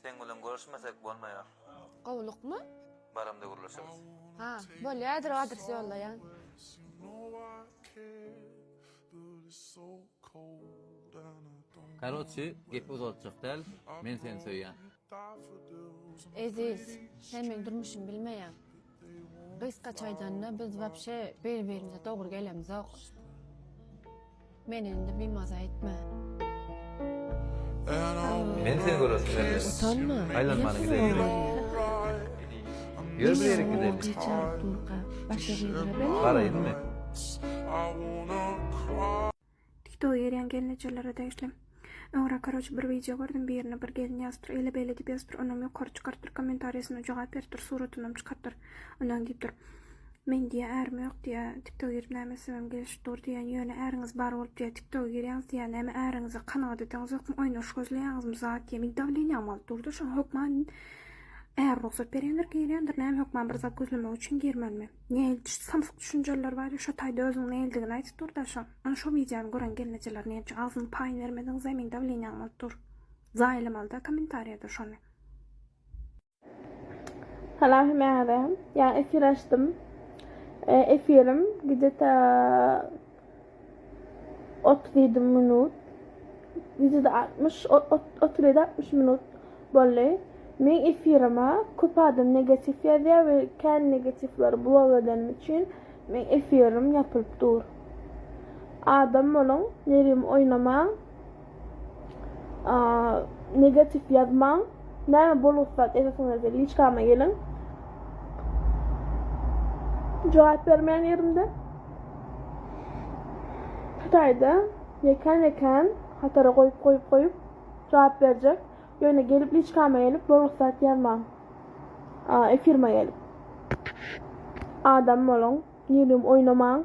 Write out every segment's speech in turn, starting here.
Seň bilen görüşmesek bolmaýar. Gowlukmy? Baramda gürleşeris. Ha, bolýadyr adres ýollaýan. Karoçi gepi uzaltjak däl men seni söýýän. Eziz, sen meň durmuşymy bilmeýäň. Gysgaça aýdanda biz wapşe bir birimize dogry gelemzok. Meni indi bimaza etme. Men seni göresim gelmedi. Utanma. Aýlanmany gideýin. Ýör bir ýerik gideýin. Garaýynmy? Tiktoga girýän gelnejelere degişli. Öňräk karoç bir wideo gördüm birine bir gelin ýazypdyr ele bele diýip ýazypdyr onam ýokary çykarypdyr komentariýasyna jogap beripdir suratynam çykarypdyr ondan diýipdir Men diýýä ärim ýok diýýä tiktoga girip näme etsem gelişip dur diýýän ýöne äriňiz bar bolup diýýä tiktoga girýäňiz diýýä näme äriňize kanagat edeňizokmy oýnaryş gözleýäňizmi zat diýýä men dawleniýam alyp durdy şoň hökman äri rugsat berýändir girýändir näme hökman bir zat gözlemek üçin girmänmi. Nähili düşdi samsyk düşünjeller bar ya şo taýda özüň nälidigini aýdyp dur daşyň. Ana şo wideony gören gelnejeler näme üçin agzyňy paýyny bermediň zemin dawleniýaň bolup dur. Zaýalamalyda komentariýada şony. Salam hemäňizem. Ýaňy efir açdym. Efirim gide ta Otuz ýedi minut. Wideoda altmyş, o- ot- otuz ýedi, altmyş minut boldy. Meň efirime köp adam negatiw ýazýar we kän negatiwleri blok edenim üçin meň efirim ýapylyp dur. Adam boluň, nerim oýnamaň. Negatif ýazmaň. Näme bolgusyz zat ýazasaňyzda liçkama geliň. Jogap bermeýän ýerimde. Hytaýda ýekän ýekän hatara goýup goýup goýup jogap berjek. Ýöne gelip liçkama gelip bolgusyz zat ýazmaň. Efirime gelip. Adam boluň. Nirem oýnamaň.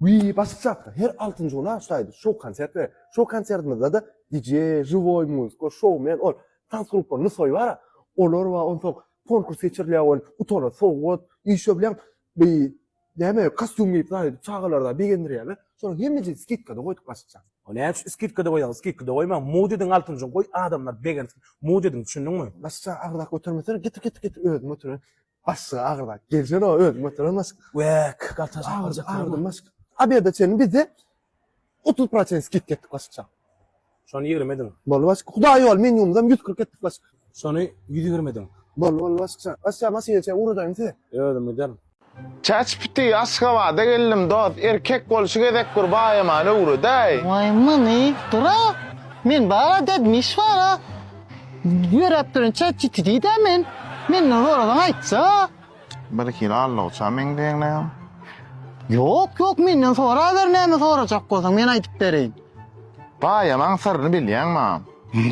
Wiý başga çakda her altynjy gün aşdaýdy şou konsert berip şou konsertimizdede DJ žiwoý muzka şou men ol tans gruppa nusoý bara olar bar onsoň konkurs geçirilýär ol utana sowgat işe bilen bi näme kostýum geýip zahit çagalarda begendirýärler şonuň hemmejini skidkada goýduk başga çak. O näme üçin skidkada goýaň skidkada goýmaň mud ediň altynjy gün goý adamlar begensin mud ediň düşündiňmi. Başga çak agzak götermesene getir getir getir özüm otyran Başga agyrda. Gelsen o özüm götüren başga. Wek, galta şapalacak. Agyrdan başga. A bir de çenin bizde 30 prosent skit ketdik başga. Şony 20 ediň. Bol başga. Hudaý ýol minimumdan 140 etdik başga. Şony 120 ediň. Bol bol başga. Başga maşyn içe ugradaýyn size. Özüm giderim. Çäçpiti Aşgabada geldim dos erkek bolşy gezek bir baýamany öwredäý. Way many dur a men bar a dedim iş bar a. Ýöräp duran çat GTD-dä men. Menden sorasaň aýtja. Birhili alloça meňzeýäňläň. Ýok, ýok, menden soraber näme sorajak bolsaň, men aýdyp bereýin. Gaýamaň syryny bilýäňmi?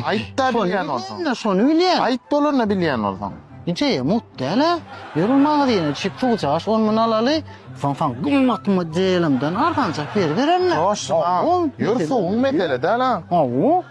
Aýt-da bilýän bolsaň. Şony bilýän. Aýt bolanda bilýän bolsaň. Njeýe mut däl-ä. Ýör ol magazyna çyk suwjaş, on mun alaly. Soň saňa gymmat modelimden arzanjak beribererin-le. Ýör suwuň mesele däl-ä. Hawa.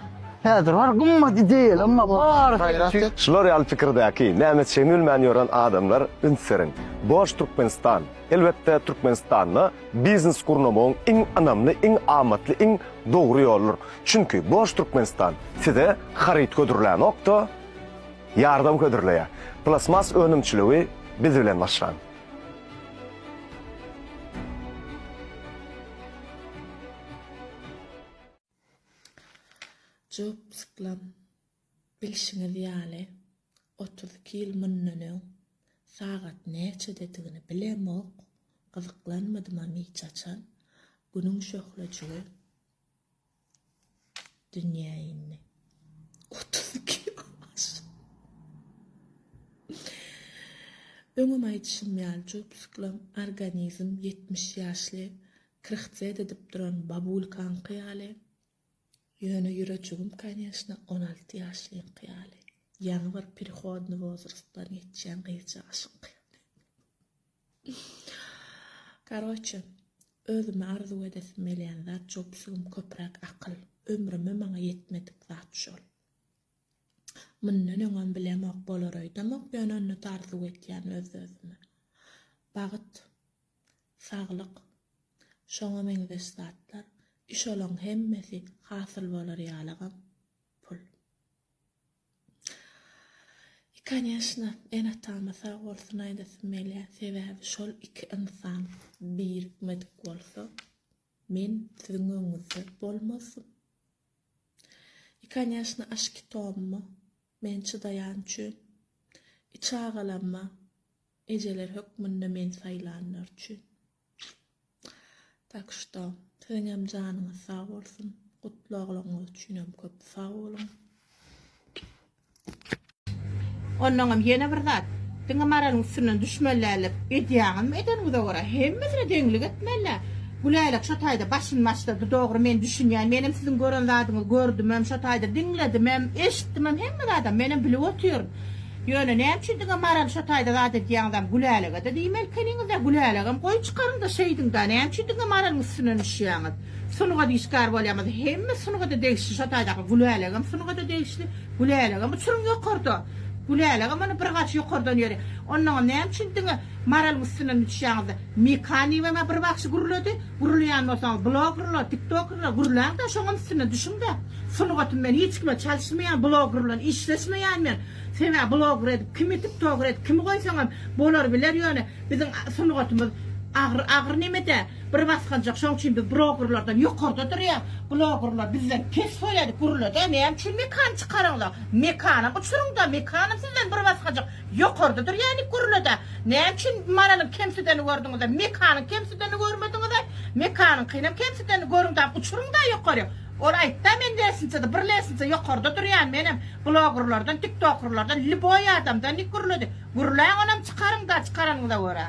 Häzir bar gymmat ideýaly emma barysy. Şular ýaly pikirdäki, näme çemilmän ýören adamlar üns beriň. Boş Türkmenistan, elbetde Türkmenistanda biznes gurnamagyň iň ynamly, iň amatly, iň dogry ýoludyr. Çünki Boş Türkmenistan size haryt hödürlänokda, ýardam hödürleýär. Plasmas önümçiligi biz bilen başlaň. Job Sklan, Bilşiňiz ýaly, otuz iki ýyl mundan öň sagat näçededigini bilemok, gyzyklanmadymam hiç haçan, günüň şöhlejigi dünýä indi. Otuz iki ýyl aşdy. Öňem aýdyşym ýaly, Job Sklan organizm ýetmiş ýaşly Krhcet edip duran babulkaňky ýaly, ýöne ýüreçigim, konýeşna, on alty ýaşlyňky ýaly, ýaňy bir perihodny wozrastdan geçýän gyzjagaşyňky ýaly. Karoçe, özüme arzuw edesim gelýän zat jopsugym köpräk akyl. Ömrüme maňa ýetmedik zat şol. Mundan öňem bilemok, bolar öýdemok, ýöne onda-da arzuw edýän öz-özüme. Bagyt. saglyk, şoňa meňzeş zatlar, i şolaň hemmesi hasyl bolar ýalygam pul. I koneşno, ene-atama sag bolsun aýdasym gelýär, sebäbi şol iki ynsan birikmedik bolsa, men siziň öňüňizde bolmazdym. I koneşno, aşyk-i Tommy. Men çydaýan üçin. Iç agalanma, ejeler hökmünde meni saýlanlar üçin. Tak şto, siziňem janyňyz sag bolsun, gutly ogluňyz üçinem köp sag boluň. Onnoňam ýene bir zat, diňe Maralyň üstünden düşmeli däldir. Edýäňizmi, edeniňize görä, hemmesine deňlik etmeli. Güläýlek şo taýda başyny maşlady, Dogry, men düşünýän. Menem siziň gören zadyňyzy gördümem, şo taýda diňledimem, eşitdimem, hemme zadam menem bilip otyryn. Ýöne näme üçin diňe Maral şo taýda zat edýäňizem, Gülälege-de diýmelikeniňiz-dä, Gülälagam goý çykaryň-da şeýdiň-dä, näme üçin diňe Maralyň üstünden düşýäňiz? Sungat işgäri bolýamyz, hemme sungada degişli şo taýdaky Gülälagam sungada degişli, Gülälagam uçuryň ýokarda, Gülälagam ony bir gaç ýokardan ýöri. Onnoňam näme üçin diňe. Maralyň üstünden düşýäňizde Mekaniýewem-ä bir bagşy gürledi. Gürleýän bolsaňyz bloggerler, tiktokkerler gürläň-de şoňam üstünden düşüň-de. Sungatym men hiç kime çalyşmaýan, blogger bilen işleşmeýän men. Sebäbi blogger edip kimi, tiktokger edip kimi goýsaňam bolar biler ýöne biziň sungatymyz agyr agyr nemede bir basgançak şoň üçin biz broggerlerden ýokarda durýas. Bloggerler bizden pes goýaýdy gürlede näme üçin Mekany çykaraňda. Mekanam uçuryňda Mekanam sizden bir basgançak Ýokarda durýany gurnada. Näme üçin Maralyň kemsideni gördüňiz-de, Mekanyň kemsideni görmediňiz-ä? Mekanyňkynam kemsideni görüň-dä, uçuryň-da ýokaryk. Ol aýtdy-a men lensnitsada, bir lensnitsa ýokarda durýan, menem blogerlerden, tiktokerlerden, lýuboý adamdan diýip gürledi. Gürläň onam çykaryň-da, çykaranyňyza görä.